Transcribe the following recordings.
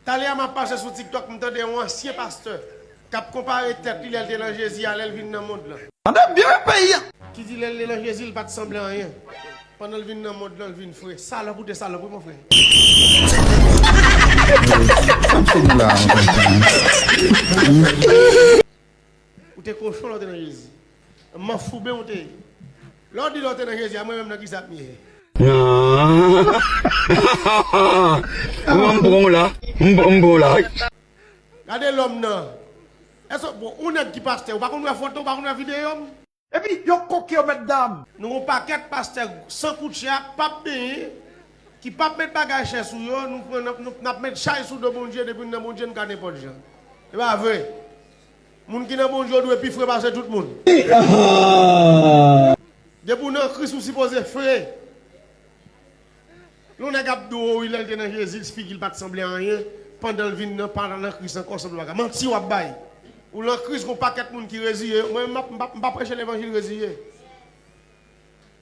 Talè a map pase sou tiktok m tande yon ansyen pastè kap konpare tèt li lèl te nan Jezi a lèl vin nan mond lan. Tande byen wi peyi a. Ki di lèl te nan Jezi li pat sanble anyen pandanl vin nan mond lan l vin fre. Salòp ou te salòp wi mon frè. Ou te kochon lè w te nan Jezi. Manfouben ou te ye. Lè w di lè w te nan Jezi a mwen menm nan kisa m ye. Gade lòm nan. Èske bon ou nèg ki pastè ou pa konn wè fòt non ou pa konn wè videyo m. Epi yo koke yo mètdam. Nou gon pakèt pastè San koutje ak pap benyen ki pap met bagay chè sou yo nou pran nap met chay sou do Bondye depi nou nan Bondye nou ka nenpòt jan epa vre moun ki nan Bondye ou dwe pi fre pase tout moun depi ou nan Kris ou sipoze fre. Yon nèg ap di w wi lè l te nan Jezi figi l pa t sanble anyen, pandan l vin nan pa l nan Kris ankò sanble bagay. Manti w ap bay. Ou nan Kris gon pakèt moun ki reziye yo. Mwen menm m pa preche levanjil reziye.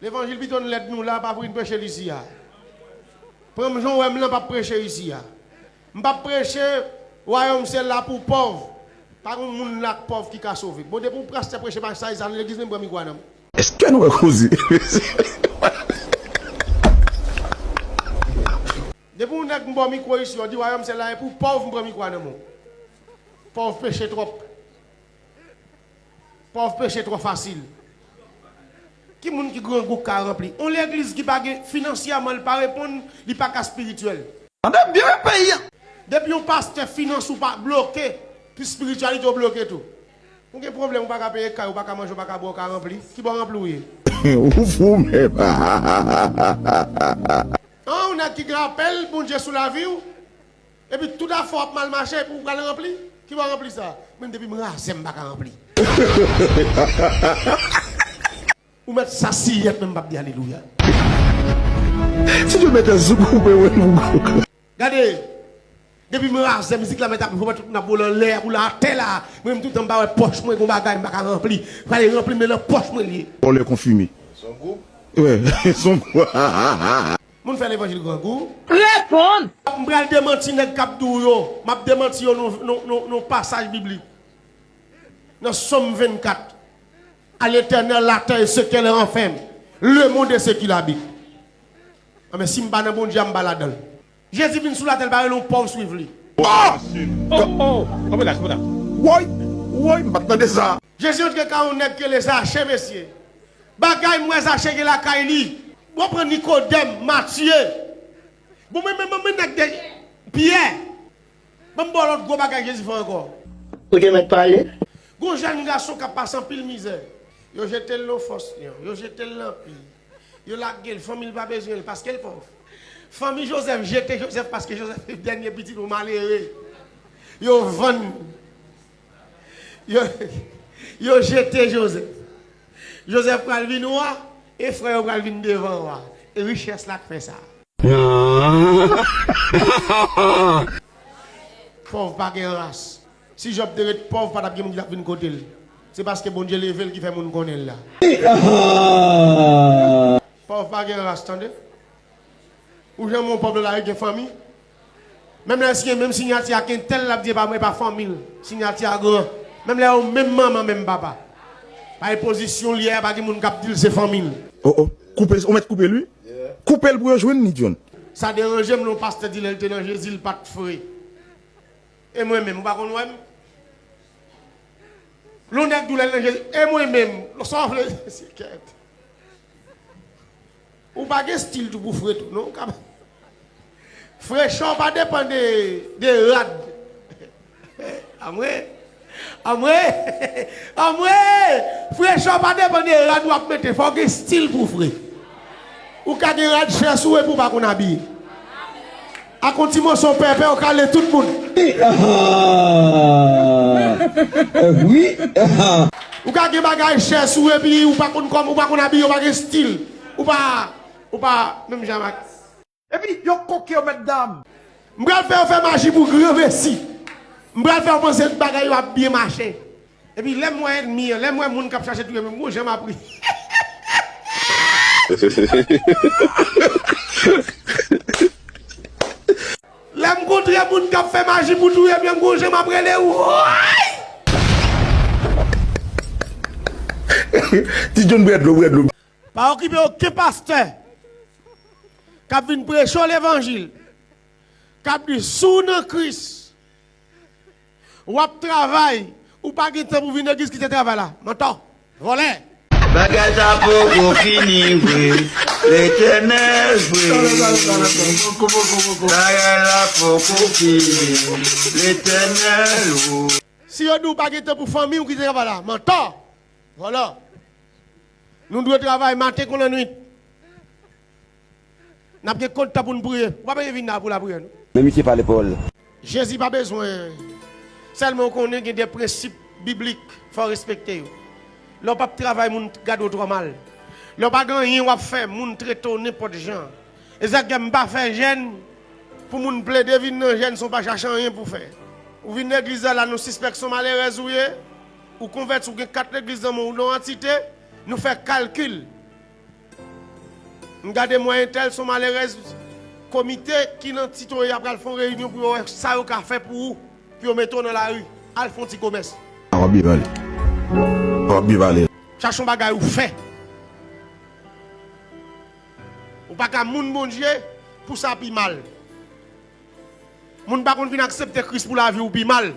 Levanjil pito n lèd nou la pa vin preche l isi a. Pran m jan w wè m lan m pa preche isi a. M pa preche wayòm se la pou pòv. Pa gon moun la k pòv ki ka sove. Bon depi w prastè preche pa sa isi a nan legliz menm pran mikwo a nan m. Eske nou wè koze mesye. Depi yon nèg m baw mikro isi yo di wayòm se la e pou pòv m pran mikro a nan menw pòv peche tròp pòv peche trò fasil ki moun ki grangou k ka ranpli yon legliz ki pa gen finansyèman li pa reponn li pa ka spirityèl. Tande byen peyi a. Depi yon pastè finans ou pa bloke pi spirityalite w bloke tou. Ou gen pwoblem ou paka peye kay ou paka manje ou paka bwe ou ka ranpli ki bò ranpli ou ye. Ou fou menm hahahahahaha. An ou nèg ki gen apèl Bondye sou laviw epi tout afèw ap mal mache epi ou pral ranpli ki bò ranpli sa menm depim razè m paka ranpli ou mèt sasiyèt menm m pap di alelouya. Si Dieu met un zouk ou pe wè nou. Gade Depi m razè mizik la mèt ap jwe tout moun ap boule anlè ap boule atè la mwen menm toutan m pa wè pòch mwen gon bagay m pa ka ranpli prale ranpli men nan pòch mwen l ye. Vòlè konfime. Son group? Ouais son group. Moun fè levanjil grangou. Reponn! M pral demanti nèg k ap di w yo. M ap demanti yo nan pasaj biblik. Nan Sòm 24, A l'Etènèl latè e sekè lè ranfèm, lemond e sekilabit. Anben sim pa nan Bondye a m pa ladanl. Jezi vin sou latèl pa rele yon pòv swiv li. Woy woy m pat tande sa. Jezi antre kay yon nèg rele zache mesye bagay m wè zache gen lakay li bon pran nikodèm matye bon men men men nèg de pyè banm baw lòt gwo bagay jezi fè ankò. Ou te mèt pale. Gon jèn gason kap pase anpil mizè yo jetel nan fòs lion yo jetel nan pi. Yo lage l, fanmi l pa bezwen l paske l pòv. Fanmi Jozèf jete Jozèf paske Jozèf se dènye pitit yon malere. Yo vann. Yo jete Jozèf. Jozèf pral vin wa e frè yo pral vin devan wa. E richès la k fè sa. Pòv pa gen ras. Si Jòb te ret pòv pa t ap gen moun ki t ap vin kote l. Se paske Bondye leve l ki fè moun konnen l la. Pòv pa gen ras tande. Ou janm wè yon pòv nan lari ki gen fanmi? Menm lè l siyen menm sinyati ak entèl l ap di e pa mwen e pa fanmi l. Sinyati a gran. Menm lè yo menm manman menm papa. Paske pozisyon l ye a pa gen moun k ap di l se fanmi l. Oh oh koupe ou mèt koupe l wi. Koupe l pou yo jwenn li John. Sa deranje m lè yon pastè di lè l te nan Jezi l pa t fre. E mwen menm, ou pa konn wè m? Lon nèg di w lè l nan Jezi, e mwen menm, sa w vle di se kèt. Ou pa gen stil tou pou fre tou non, ou ka. Frechè w pa depan de, de rad. Anmwe! Anmwe! Anmwe! Frechè w pa depan de rad w ap mete, fò w gen stil pou w fre. Ou ka gen rad chè sou ou epi w pa konn abiye. Ak yon ti moso pèpè ou kale tout moun. Ou ka gen bagay chè sou ou epi ou pa konn kòman ou pa konn abiye ou pa gen stil ou pa ou pa menm jan ak. Epi yo koke yo mètdam. M pral fè yo fè maji pou granmesi. M pral fè yo panse tout bagay yo ap byen mache. Epi lèm wè enmi an. Lèm wè moun kap chache touyem yo bon jan map ri. Lèm kontre moun kap fè maji pou touyem yo gon jan map rele wouyy. Pa okipe oken pastè kap vin preche w levanjil kap di si w nan kris. Wap travay ou pa gen tan pou vin legliz kite travay la mantò vòlè. Bagay sa poko fini vre Letènèl vre Bagay la poko fini Letènèl o. Si yo di w pa gen tan pou fanmi w kite travay la mantò vòlò Nou dwe travay maten kon lanwit. Nap gen kont tan poun priye. Ou pa bezwen vin la pou lapriyè non. Men misye pale pawol. Jezi pa bezwen. Selman ou konnen gen de prensip biblik fòw respekte yo. Lèw pap travay moun gadew trò mal. Lèw pa gen anyen wap fè moun tretew nenpòt jan. Ezakgèm mpa fè jèn pou moun plede vin nan jèn san w pa chache anyen pou fè. Ou vin legliz la la nou sispèk son malerèz ou ye, ou konvèti ou gen kat legliz nan menw ou nan antite, nou fè kalkil M gade mwen entèl son malerèz komite ki nan ti toye a pral fon reyinyon pou yo wè sa yo ka fè pou ou pou yo mete w nan lari al fon ti komès. A wap byen pale. A wap byen pale. Chache yon bagay ou fè. Ou paka moun Bondye pou sa pi mal. Moun pa konn vin aksepte Kris pou lavi ou pi mal.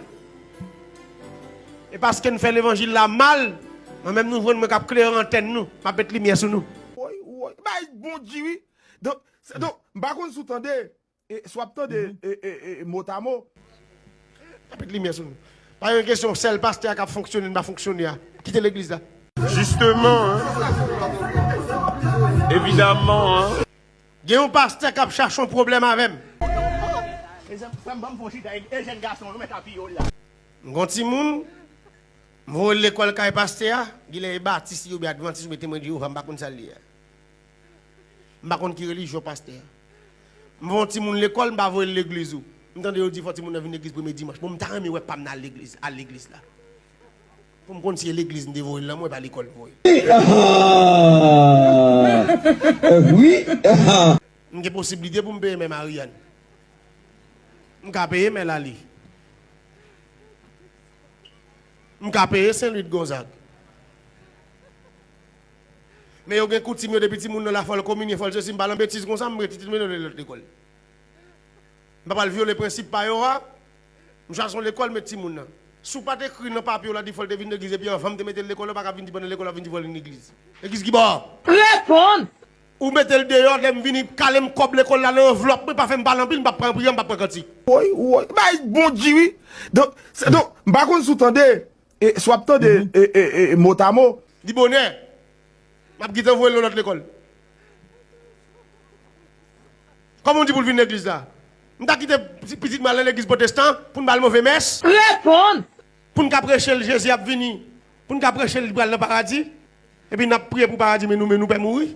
E paske n fè levanjil la mal, mwen menm nou jwenn mwen kap klere antèn nou, map met limyè sou nou. Woy woy bay bon bgy wi. Don m pa konn si w tande e si w ap tande e mot a mot. Map met limyè sou nou. Pa gen kesyon sèl pastè a kap fonksyone n pa fonksyone a. Kite legliz la. Jisteman an. Evidaman an. Gen yon pastè kap chache yon pwoblèm avèm. M gon timoun m voye l lekòl kay pastè a, genlè e batis li oubyen advantis oubyen temwen jewova m pa konn sa l ye a. M pa konn ki relijyon pastè a. M voye yon timoun lekòl m pa voye l legliz ou. M tande yo di fò timoun nan vin legliz premye dimanch. Bon m ta renmen wè pam nan al legliz la. Pou m konn si e legliz m te voye l lan mwen pa lekòl m voye l. M gen posiblite pou m peye men Marianne. M ka peye men Laly. M ka peye Saint Louis de Gonzague. Men yo gen koutim yo depi timoun nan la fò l kominye fò l sesi m pa lan betiz konsa m rete m pa pral vyole prensip pa yo a. M chwazi yon lekòl met timoun nan. Si w pa t ekri nan papye w la di fò l te vin legliz epi anvan m te mete l lekòl yo pa ka vin di pandan lekòl w ap vin di fò l vin legliz. Legliz ki bò? Repons. Ou mete l deyò lè m vini kale m kòb lekòl la nan anvlòp mwen pa fè m pale anpil m pa p pran priyè m pa p pran kantik. Woy woy bagay bon di wi. Donk se donk m pa konn si w tande E si w ap tande motamo. Di bonè. M ap gentan voye l nan lòt lekòl. Kòman w di pou l vin nan legliz la? M ta kite pitit mwen al nan legliz potestan pou n ba l move mès? Reponn! Pou n ka preche l Jezi ap vini, pou n ka preche l li pral nan paradi, epi n ap priye pou paradi men nou menm nou pè mouri?